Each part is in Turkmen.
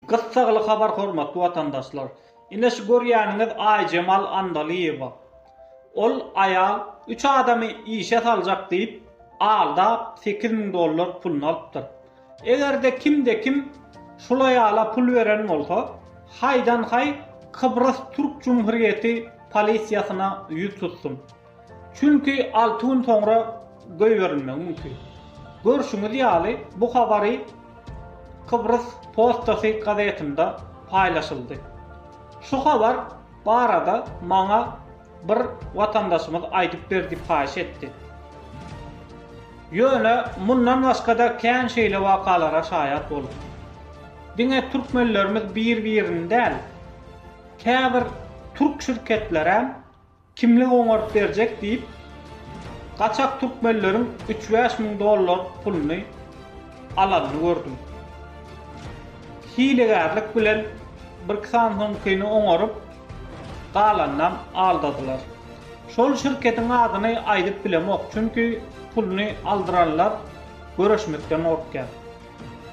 Gyssagly habar hormatly watandaşlar. Ine şu görýäniňiz Aýjemal Andalyýewa. Ol aýal üç adamy işe saljak diýip aldap sekiz müň dollar puluny alypdyr. Egerde kimde kim şul aýala pul beren bolsa haýdan haý Kybrys Türk Cumhurýeti polisiýasyna ýüz tutsun. Çünki alty gün soňra goýberilmegi mümkin. Görşüňiz ýaly, bu habary Kybrys postasy gazetinde paýlaşyldy. Şu habar barada maňa bir watandaşymyz aýdyp ber diýip haýyş etdi. Ýöne mundan başga-da kän şeýle wakalara şaýat boldum. Diňe türkmenlerimiz bir-birini däl, käbir türk şirketleräm Kimlik oňaryp berjek diýip, gaçak türkmenleriň üç-bäş müň dollar puluny alanyny gördüm. Hilegärlik bilen birki sany soňkyny oňaryp, galanynam aldadylar. Şol şirketiň adyny aýdyp bilemok, çünki puluny aldyranlar göreşmekden gorkýar.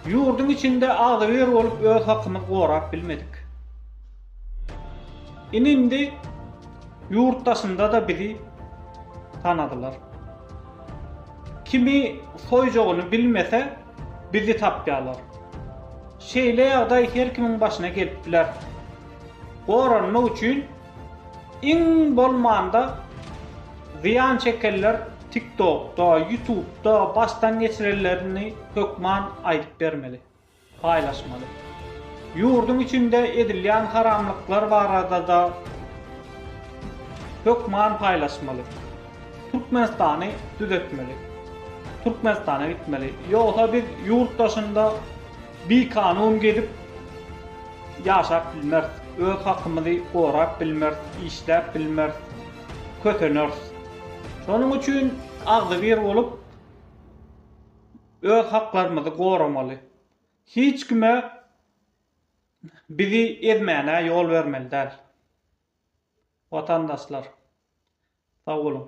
Ýurduň içinde agzybir bolup öz hakymyzy gorap bilmedik. Indi-indi ýurt daşynda-da bizi tanadylar. Kimi soýjagyny bilmese, bizi tapýarlar. Şeýle ýagdaý her kimiň başyna gelip biler. Goranmak üçin iň bolmanda zyýan çekenler TikTokda, Ýutubda başdan geçirenlerini hökman aýdyp bermeli. paýlaşmaly. Ýurduň içinde edilýän haramlyklar barada-da hökman paýlaşmaly. Türkmenistany düzetmeli. Türkmenistana gitmeli. Ýogsa biz ýurt daşynda bikanun gezip ýaşap bilmeris. Öz hakymyzy gorap bilmeris, işläp bilmeris. Köseneris. Şonuň üçin agzybir bolup Öz haklarymyzy goramaly. Hiç kime bizi ezmäne ýol bermeli däl. Watandaşlar. Sag boluň.